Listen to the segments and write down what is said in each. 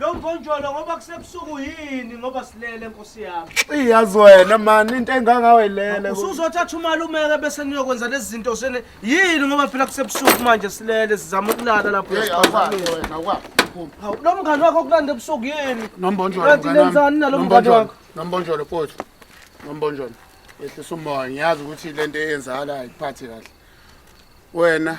Lo mponjolo ngoba kusebusuku yini ngoba silele nkosi yami. Iyazi wena man into engangawe ilele. Usuzothi athi umalumeke bese niyokwenza lezi zinto sene yini ngoba phela kusebusuku manje silele sizama ukulala lapho yasiphakamile. Wena kwa. Hawu lo mngani wakho kulanda ebusuku yini? Nombonjolo. Kanti lenzani nalo mngani wakho? Nombonjolo futhi. Nombonjolo. Yehlisa umoya ngiyazi ukuthi lento eyenzakalayo ayiphathi kahle. Wena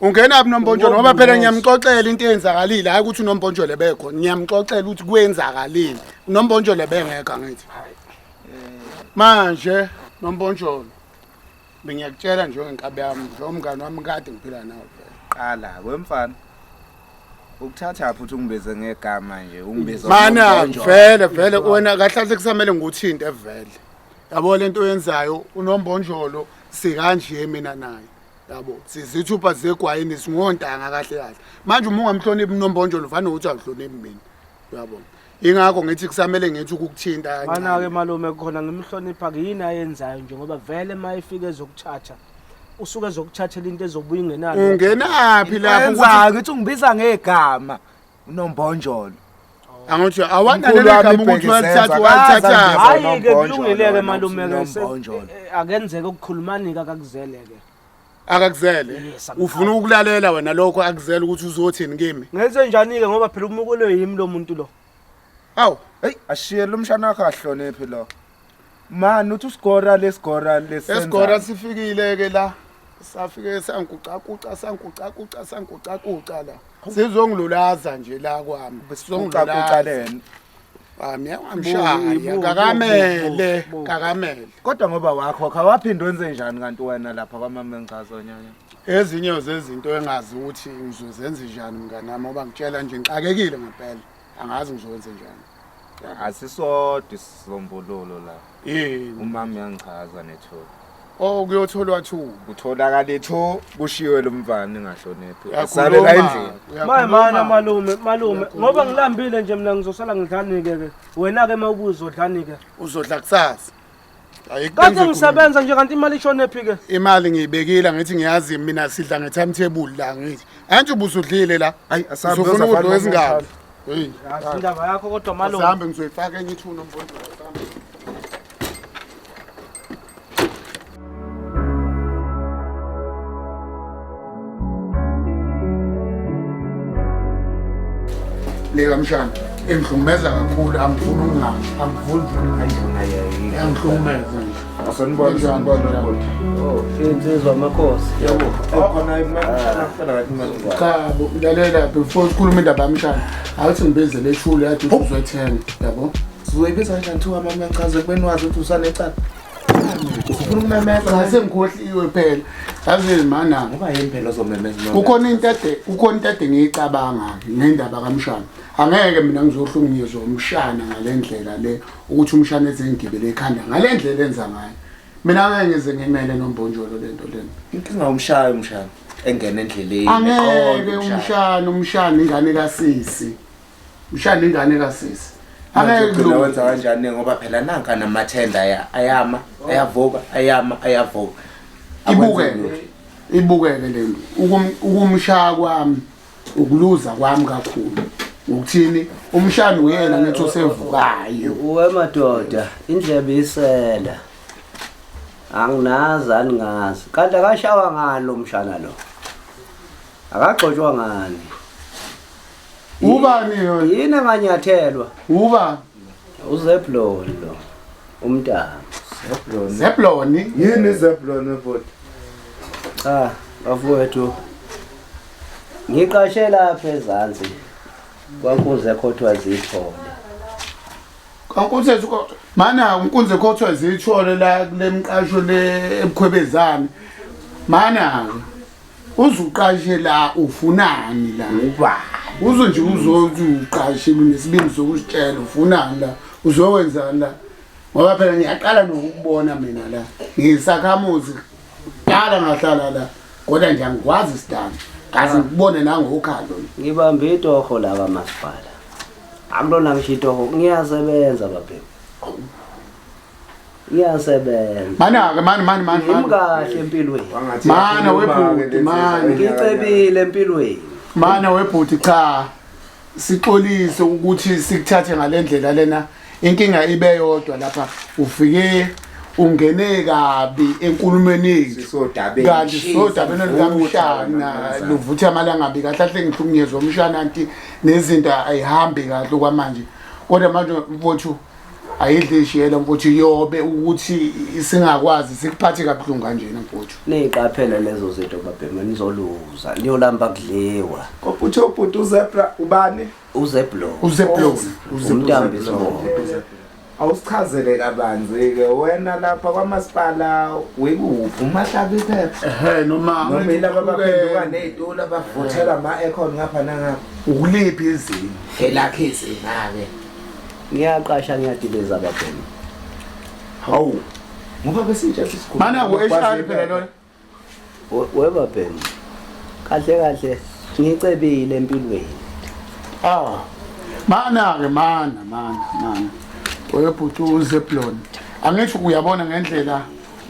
Ungena phi nombonjolo ngoba phela ngiyamxoxela into eyenzakalile hayi ukuthi unombonjolo ebekho ngiyamxoxela ukuthi kwenzakalile unombonjolo ebengekho angithi manje nombonjolo bengiyakutshela nje ngenkabi yami nje umngane wami kade ngiphila nawo phela qala kwemfana ukuthatha phi uthi ungibize ngegama nje ungibize mana ngombonjolo. vele vele wena kahlahle kusamele ngikuthinte vele yabo lento oyenzayo unombonjolo sikanje mina naye yabo sizithupha zegwayini singontanga kahle kahle manje uma ungamhloniphi unombonjolo vane ukuthi awuhloniphi mina uyabona ingakho ngithi kusamele ngithi ukukuthinta mana-ke malume khona ngimhlonipha-ke yini ayenzayo nje ngoba vele uma efike ezokuthatha usuke ezokuthathela into ezobuya ingenalo ungenaphi lapho ngithi ungibiza ngegama unombonjolo angithi awananeleka ukuthi wathatha wathatha hayi ke kulungileke malume ke eh, eh, akenzeke ukukhulumani ke akakuzele ke akakuzele ufuna ukulalela wena lokho akuzele ukuthi uzothini kimi ngenze njani ke ngoba phela umukelwe yimi lo muntu lo awu hey ashiye lo mshana wakhe ahloniphi lo Man uthi usigora lesigora lesenza. Esigora sifikile ke la. Safike sanguca kuca sanguca kuca sanguca kuca la. Sizongilulaza nje la kwami. Sizongilulaza lena. Ami angamshaya kakamele kakamele. Kodwa ngoba wakho awaphinde wenze njani kanti wena lapha kwamama engichazo nyanya. Ezinye zezinto engazi ukuthi ngizozenza njani mnganami oba ngitshela nje ngixakekile ngempela. angazi ngizokwenze njani asisodwa isisombululo la yini umama uyangichaza nethuba oh kuyotholwa two kutholakale two kushiwe lo mvana engahloniphi Uyakhuluma. asale la endlini Uyakhuluma. maye mana malume malume ngoba ngilambile nje mina ngizosala ngidlanike-ke wena-ke uma ubuza odlanike uzodla kusasa Ayi, kade benze ngisebenza nje kanti imali ishone phi ke imali ngiyibekile ngithi ngiyazi mina sidla nge-timetable la ngithi anti ubusudlile la Ayi, asabe, uzofuna uzafana ukudla nomuntu wezingalo mkhulu. Hey, Yazi indaba yakho kodwa malo asambe ngizoyifaka enye ithuna mfowethu asambe. leka mshana engihlukumeza kakhulu angifuni ukungami angifuni angihlukumeza insizwa amakhosi chabo lalela before sikhuluma indaba yamshana awuthi ngibizele eshule yathi uzwethenge yabo sizoyibiza kanjani thiwa mama uyachaza ekubeni wazi ukuthi usanecala ufuna ukumemeza la sengikhohliwe phela yazi mana ngoba yini phela ozomemeza noma kukhona into ade kukhona into ade ngiyicabanga ngendaba kamshana angeke mina ngizohlukunyezwa umshana ngalendlela le ukuthi umshana eze ngigibele ekhanda ngalendlela enza ngayo mina ngeke ngize ngimele nombonjolo lento lena inkinga umshayo umshana engena endleleni angeke umshana umshana ingane kasisi ushana ingane kasisi angeke wenza kanjani ngoba phela nanka namathenda ayama ayavuka ayama ayavuka ibukeke ibukeke le nto ukumshaya kwami ukuluza kwami kakhulu ukuthini umshana uyena ngithi usevukayo uwe madoda indlebe isela anginazi aningazi kanti akashawa ngani lo mshana lo akagxotshwa ngani ubani yona yini anganyathelwa ubani uzeblon lo umntana zeblon zeblon yini zeblon ebodi cha bafowethu ngiqashe lapha ezansi kwankunzi ekhothwa zithole kwankunzi ezikhothwa mana unkunzi ekhothwa zithole la kule mqasho le ebukhwebezane mana-ke uzuqashe la ufunani la uba uzo nje uzothi uqashe unesibindi sokusitshela ufunani la uzokwenzani la ngoba phela ngiyaqala nokubona mina la ngisakhamuzi qala ngahlala la kodwa nje angikwazi sidani kaze ngikubone nangokhalo ngibambe itoho la kamasipala akulona ngisho itoho ngiyasebenza babhemu iyasebenza mana-ke mani mani mani ngim kahle empilweni mana webhuti mani ngicebile empilweni mana webhuti cha sixolise ukuthi sikuthathe ngale ndlela lena inkinga ibe yodwa lapha ufike ungene kabi enkulumeni yethu kanti sodabeni likamshana luvuthe amalanga abi kahle ahle ngihlukunyezwa umshana anti nezinto ayihambi kahle kwamanje kodwa manje mfowethu ayidle ishiyela mfowethu yobe ukuthi singakwazi sikuphathe kabuhlungu kanjena mfowethu niyiqaphela lezo zinto babhema nizoluza niyolamba kudliwa koputhe ubhuti uzebra ubani uzeblo uzeblo umntambi sibongo awusichazele kabanzi-ke wena lapha kwamasipala wekuphi umahlabi phepha ehe noma noma ilaba abaphenduka ney'tula abavuthela ama-econ ngapha nangapha ukuliphi izinga elakhe izinga-ke ngiyaqasha ngiyadiliza babhemu hawu ngoba besintsha sisikhulu mana ku-hr phela lona webabhemu kahle kahle ngicebile empilweni ah mana-ke mana mana mana oyobhuti uzeblon angisho uyabona ngendlela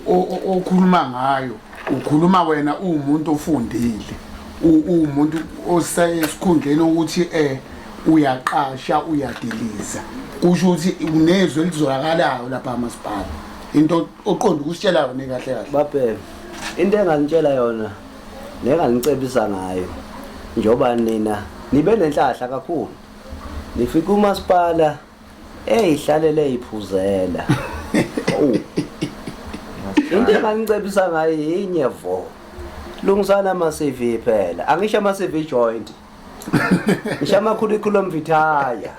okhuluma ngayo ukhuluma wena uwumuntu ofundile uwumuntu osesikhundleni ukuthi eh uyaqasha uyadiliza kusho ukuthi unezwe elizolakalayo lapha masipala into oqonda ukusitshela yona kahle kahle babheke into enganitshela yona nenganicebisa ngayo njengoba nina nibe nenhlahla kakhulu nifika umasipala Hey hlalele iphuzela. Oh. Into enganicebisa ngayo yinye vo. Lungisana ama CV phela. Angisho ama CV joint. Ngisho ama curriculum vitae.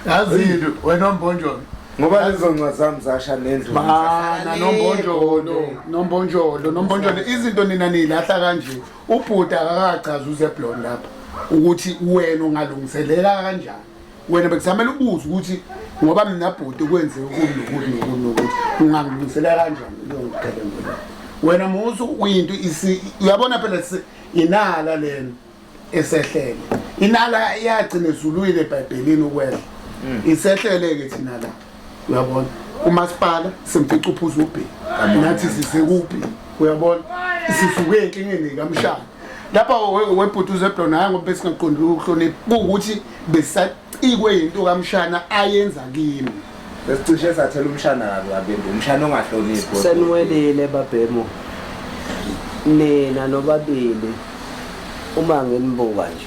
Yazi wena ombonjolo. Ngoba lezo ncwa zami zasha nendlu. Bana nombonjolo, nombonjolo, nombonjolo izinto nina nilahla kanje. Ubhuti akakachaza uze blonde lapha ukuthi wena ungalungiselela kanjani. wena bekusamele ubuze ukuthi ngoba mina bhuti kwenze ukuthi nokuthi nokuthi nokuthi ungangilungisela kanjani leyo ngigebengu leyo wena musu uyinto uyabona phela inala lena esehlele inala iyagcina ezulwini ebhayibhelini ukwela mm. isehlele-ke thina la uyabona umasipala semfica uphuza ubhe nathi sisekuphi uyabona sisuke enkingeni kamshana lapha webhuti uzeblona hhayi ngoba besingaqondile ukuhlonipha kuwukuthi besacikwe yinto kamshana ayenza kimi besicishe sathela umshana kabi kabembe umshana ongahloniphi seniwelile babhemu nina nobabili uma nginibuka nje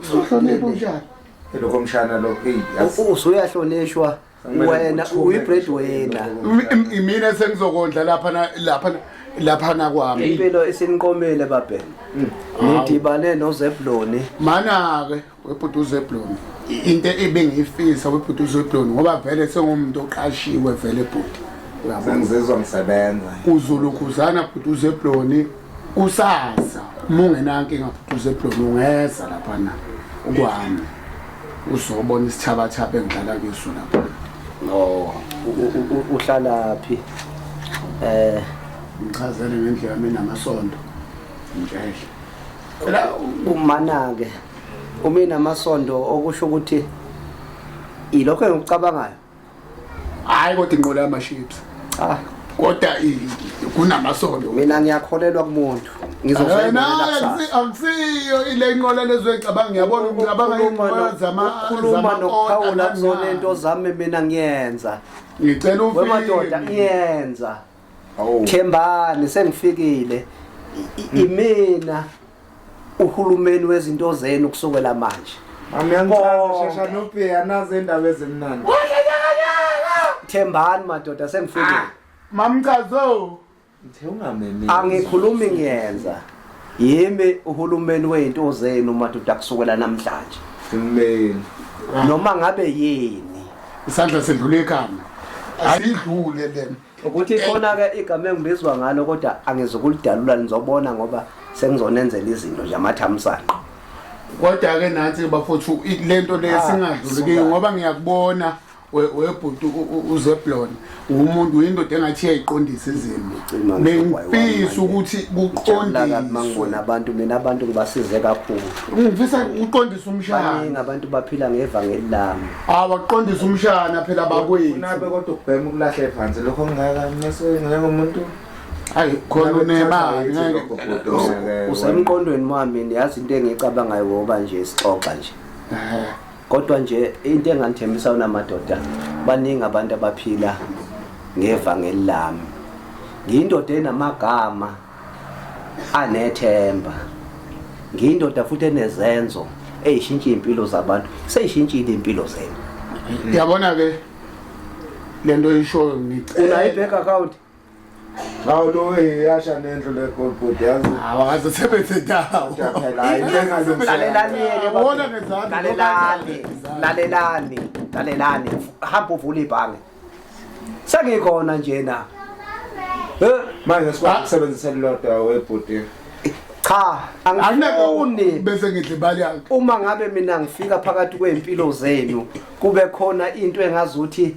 uzohlonipha unjani lokho mshana lo hey usuyahlonishwa wena uyi bread wena imina sengizokondla lapha lapha lapha na kwami impilo isiniqomile babheni mm. ngidibane nozebloni mana ke webhuti uzebloni into ebengiyifisa webhuti uzebloni ngoba vele sengumuntu oqashiwe vele bhuti uyabona ngizizwa ngisebenza uzulukhuzana bhuti uzebloni kusasa uma ungenankinga futhi usebloni ungeza laphana ukwami uzobona isithabathaba engidlala kiso lapha no uhlala phi eh ngichazele ngendlela mina namasondo njehle la umana ke uma inamasondo okusho ukuthi ilokho engikucabangayo hayi kodwa inqola yamaships ah kodwa kunamasondo mina ngiyakholelwa kumuntu akusiyo ile nqola lezoyicabanga ngiyabona ngicabanga inqola zamakhuluma nokuphawula kuzona into zami mina ngiyenza ngicela ufike wemadoda ngiyenza Oh. Thembani sengifikile hmm. imina uhulumeni wezinto zenu kusukela manje. Mami angicela shesha nophe anaze indaba ezimnandi. Thembani madoda sengifikile. Ah, Mamchazo. Ngithe ungamemeli. Angikhulumi ngiyenza. yimi uhulumeni wezinto zenu madoda kusukela namhlanje amen noma ngabe yini isandla sendlula ekhanda ayidlule lena ukuthi khona ke igama engibizwa ngalo kodwa angizokulidalula nizobona ngoba sengizonenzela izinto nje amathamsanqa kodwa ke nansi bafowethu lento lesingadluli ah, ngoba ngiyakubona webhuti uzeblon umuntu uyindoda engathi iyayiqondisa izimo bengifisa ukuthi kuqondismangibona abantu mina abantu ngibasize kakhulu ngifisa uqondise umshana abantu baphila ngevangeli lami awaqondise umshana phela bakwethu nabe kodwa ukubhema ukulahle phansi lokho ngingaka ngese ngeke umuntu hayi khona unemali ngeke usemqondweni wami yazi into engiyicabangayo ngoba nje sixoxa nje Kodwa nje into engangithembisa yona madoda baningi abantu abaphila ngevangeli lami. Ngiyindoda enamagama anethemba. Ngiyindoda futhi enezenzo eyishintsha impilo zabantu. Seyishintshile impilo zenu. Yabona ke lento oyishoyo ngicela. Unayibheka account? Hawu lo eyasha nendlu le gold board yazi. Hawu akaze sebethe dawo. Phela hayi lengalungisa. Lalelani yeke baba. Wona ngezansi. Lalelani. Lalelani. Lalelani. Hamba uvule ibhange. Sengikhona nje na. Eh, Manje sikwazi ukusebenzisa lodwa webhuti. cha, angifuni. bese ngidla imali yakhe uma ngabe mina ngifika phakathi kwey'mpilo zenu kube khona into engazuthi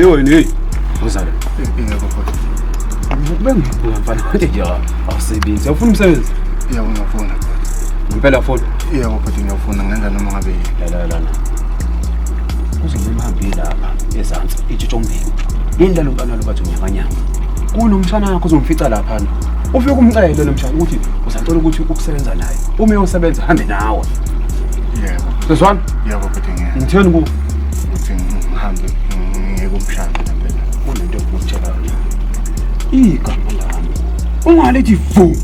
Yoni. Uzalo. Yebo futhi. Ngikube ngibuka mfana manje nje awusebenzi. Awufuna umsebenzi? Yebo ngiyafuna. Ngempela futhi. Yebo futhi ngiyafuna ngenza noma ngabe yini. La la la. Kuzobe imhambi lapha ezantsi itshitsho mbili. Yini lalo mfana lo bathi unyakanyaka. Kunomshana wakho uzomfica lapha. Ufike umcele lo mshana ukuthi uzathola ukuthi ukusebenza naye. Uma uyosebenza hambe nawe. Yebo. Sezwana? Yebo futhi ngiyena. Ngitheni kuwe? ukuthi ngihambe ngiyeke umshado phela kunento engikutshela yona igama lami ungalethi vu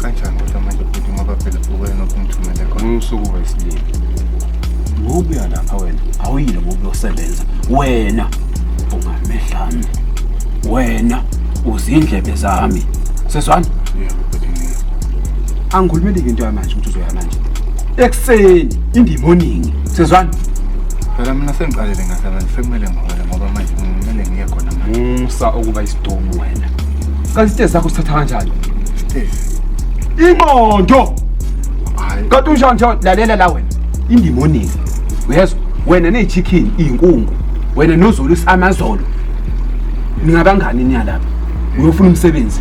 kanjani kodwa manje futhi ngoba phela uwena okumthumele khona umsuku wesilili ngokuya lapha wena awuyile ngokuyosebenza wena ungamehlami wena uzindlebe zami seswana angikhulumeli-ke into yamanje ukuthi uzoya manje ekuseni indimoningi sezwani phela mina sengiqalele ngahlala sekumele ngihole ngoba manje kumele ngiye khona manje musa ukuba isidomu wena kanti isitezi sakho sithatha kanjani sitezi ingqondo hayi kanti unjani nje lalela la wena indimoningi uyezwa wena nechicken iyinkungu wena nozulu isamazolo ningabangani niyalapha uyofuna umsebenzi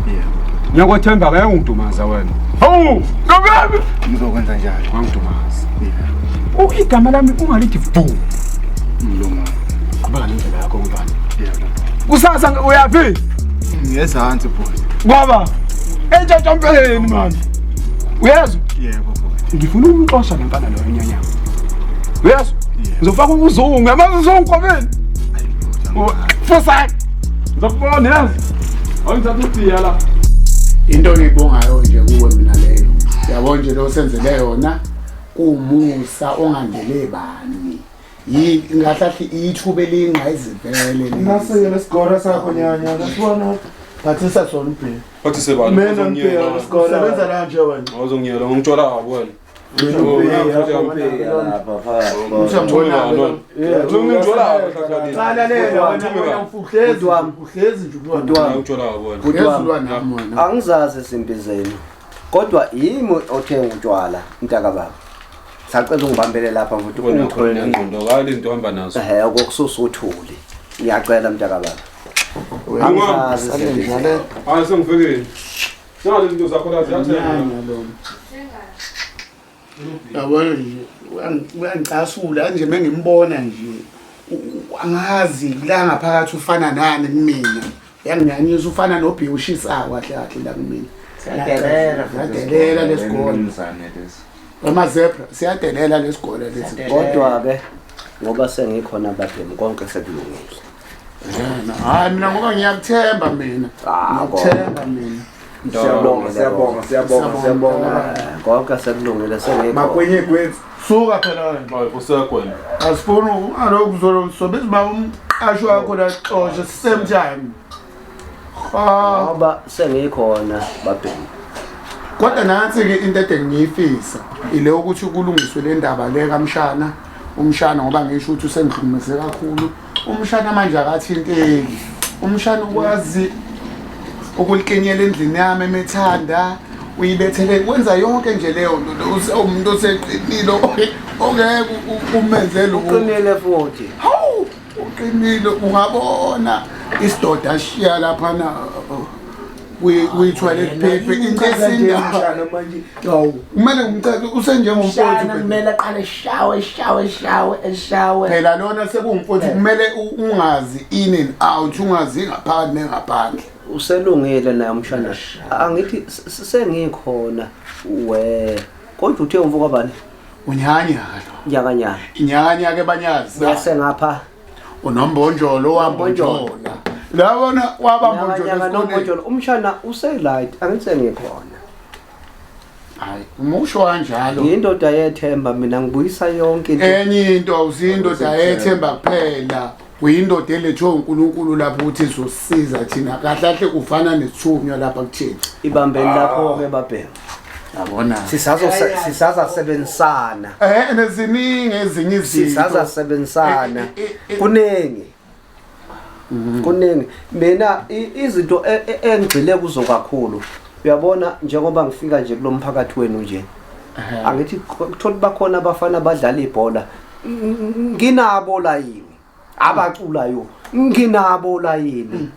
yeah ngiyakwathemba ke ungidumaza wena Hawu, nobami. Ngizokwenza njalo. Wangidumaza. Ukho igama lami ungalithi bhu. Mlungu. Qhubeka nendlela yakho mntwana. Yebo. Kusasa uyaphi? Ngiyezansi bhuti. Ngoba entshantsha mpeleni manje. Uyezwa? Yebo bhuti. Ngifuna umxosha lo mfana loyo nyanya. Uyezwa? Ngizofaka ukuzungu, yamazi uzungu kwabeni. Ayi bhuti. Fosani. Ngizokubona yazi. Awungithatha ubhiya la. Into engiyibongayo nje kuwe mina leyo. Yabo nje lo senzele yona umusa ongandele bani. Yi ngahlathi ithuba elingqa izivele. Nase lesigora sakho nyanya. Nasibona. Thathisa sona ubhiya. Wathi sebani? Mina ngibheka lesigora. Sebenza la nje wena. Awuzongiyela ngomtshwala wabo wena. angizazi izimpi zenu kodwa yimi othenga utshwala mntaka baba sacela ungibambele lapha futhi ungitholeokokususa uthuli ngiyacela mntaka baba angizazi Nalo izinto zakho la ziyathengwa. Yabona nje uyangicasula kanje mengimbona nje angazi la ngaphakathi ufana nani kumina yanginyanyisa ufana nobhi ushisayo kahle kahle la kumina siyadelela lesigole amazebra siyadelela lesigole lesi kodwa-ke ngoba sengikhona bademu konke sekulungile hayi mina ngoba ngiyakuthemba mina ah, ngiyakuthemba mina siyabonga siyabonga siyabonga siyabonga konke sekulungile sengekho makwenye kwethu suka phela ngixoxe kusekwena asifuni alokhu zolo sobe siba umqasho wakho la xoshe same time ngoba sengikhona babheki kodwa nansi-ke into ede ngiyifisa ile ukuthi kulungiswe le ndaba le kamshana umshana ngoba ngisho ukuthi usengihlumeze kakhulu umshana manje akathinteki umshana ukwazi ukulikinyela endlini yami emethanda uyibethele kwenza yonke nje leyo nto umuntu oseqinile ongeke umenze loqinile futhi hawu uqinile ungabona isidoda shiya laphana kuyithwale phephe incesindawo manje awu kumele ngimcele usenjengomfowethu Shana kumele aqale eshawe eshawe eshawe eshawe phela lona sekungumfowethu kumele u- ungazi in and out ungazi ngaphakathi nengaphandle uselungile naye umshana angithi s- s- sengikhona we kodwa uthe umfo kwabani unyanya nyakanyaka inyanya ke banyazi bese ngapha unombonjolo wambonjola labona wabambonjola umshana uselight angithi ngikhona hayi umusho kanjalo yindoda yethemba mina ngibuyisa yonke into enye into awusindoda yethemba kuphela uyindoda elethwe uNkulunkulu lapho ukuthi izosiza thina kahle kahle kufana nesithunywa lapha kuthina ibambeni lapho ke babheka yabona sisazo sisaza sebenzisana eh neziningi ezinye izinto sisaza sebenzisana eh, eh, eh, kuningi mhm. kuningi mina izinto e, e, engigcile kuzo kakhulu uyabona njengoba ngifika nje kulomphakathi wenu nje angithi kuthola bakhona abafana abadlala ibhola nginabo la yini abaculayo nginabo la yini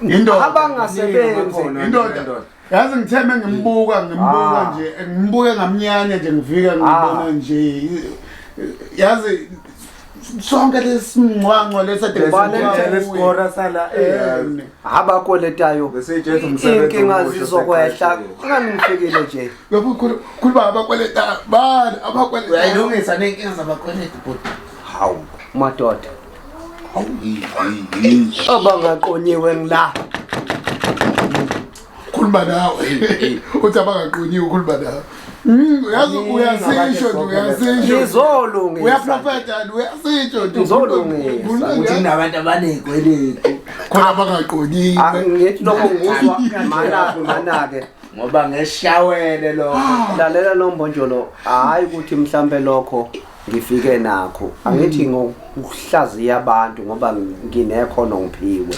Indoda. abangasebenzi Khona Indoda. indoda. Yazi ngitheme ngimbuka ngimbuka Ah. nje ngimbuke ngamnyanya nje ngifika ngibona Ah. nje yazi sonke lesimncwanco lesade Ubani Ngitshela isikora sala eh, em, abakweletayo Bese itshetha umsebenzi inkinga omusha zizokwehla oseqashile. ngani ngifikile nje lokhu khuluma abakweleta bani abakweleta uyayilungisa nenkinga zabakweleti bhuti hawu madoda abangaqonyiwe ngila khuluma nawe uthi abangaqonyiwe ukhuluma nawe hmm, uyazi uyasisho nje uyasisho ngizolungisa uyaprofeta nje uyasisho nje ngizolungisa ukuthi nabantu abanezikweletu khona abangaqonyiwe ah, ngithi lokho nguzwa mana mana ke ngoba ngeshawele lokho ah. lalela lombonjolo hayi ukuthi mhlambe lokho ngifike nakho angithi ngokuhlaziya abantu ngoba nginekhono ngiphiwe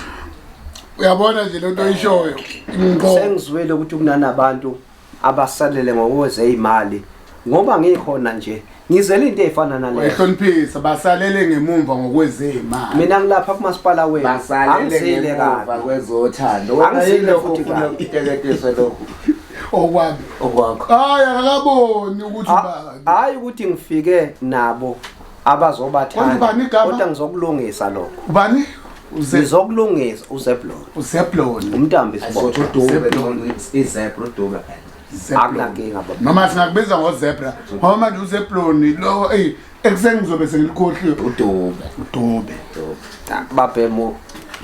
uyabona nje lento oyishoyo ngqo sengizwile ukuthi kunanabantu abasalele ngokweze imali ngoba ngikhona nje ngizele into efana naleyo ehloniphisa basalele ngemumva ngokwezema mina ngilapha kumasipala wenu angizile kabi kwezothando wena yilo ufuna ukiteketiswa lokho okwami okwakho hayi akaboni ukuthi ah. ba hayi ukuthi ngifike nabo abazobathanda kodwa ngizokulungisa lokho ubani uzokulungisa uzeblon uzeblon umntambi sibodwa akunankinga noma singakubiza ngozebra ngoba manje uzebloni lo eyi ekuseni ngizobe sengilikhohliwe udube udube babhemo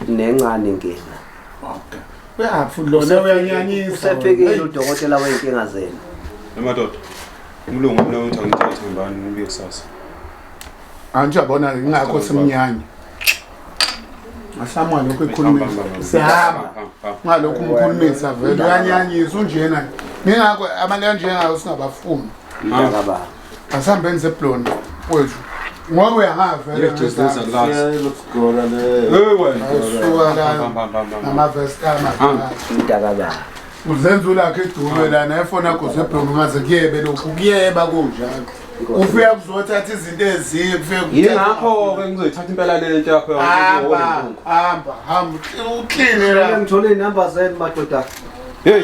nencane nkinga okay uyaphi lona uyanyanyisa usefikile udokotela wey'nkinga zenu emadoda Umlungu mina uthi angithathe ngibani ngibuye kusasa. Angisho yabona ke ngakho simnyanya. Asamwa lokho ekhulumisa. Sihamba. Ngalokho umkhulumisa vele uyanyanyisa unjena. Ngingakho abantu kanjengayo singabafuni. Mntaka ba. Asihambeni zeblonde kwethu. Ngoba uyahamba vele. Just this at last. Lokugora le. Hey wena. Ayisuka la. Hamba hamba hamba. Namavesta ama. Mntaka ba. uzenza ulakhe idulwe lana efona goze ebhonga ngaze kuyebe lokhu kuyeba kunjalo ufika kuzothatha izinto ezinye kufeyingakho-ke ngizoyithatha impela lento yakho hamba hamba hamba ukline la ngithole inumber zenu madoda heyi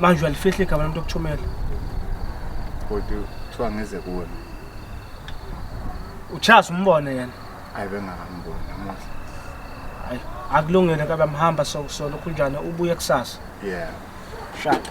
manje uyalifihla igama lomuntu okuchomela kodwa kuthiwa ngeze kuwena uchasa umbone yena hayi bengakamboni namuhla hayi akulungile kabe mhamba sokusolo kunjani ubuye kusasa yeah shaka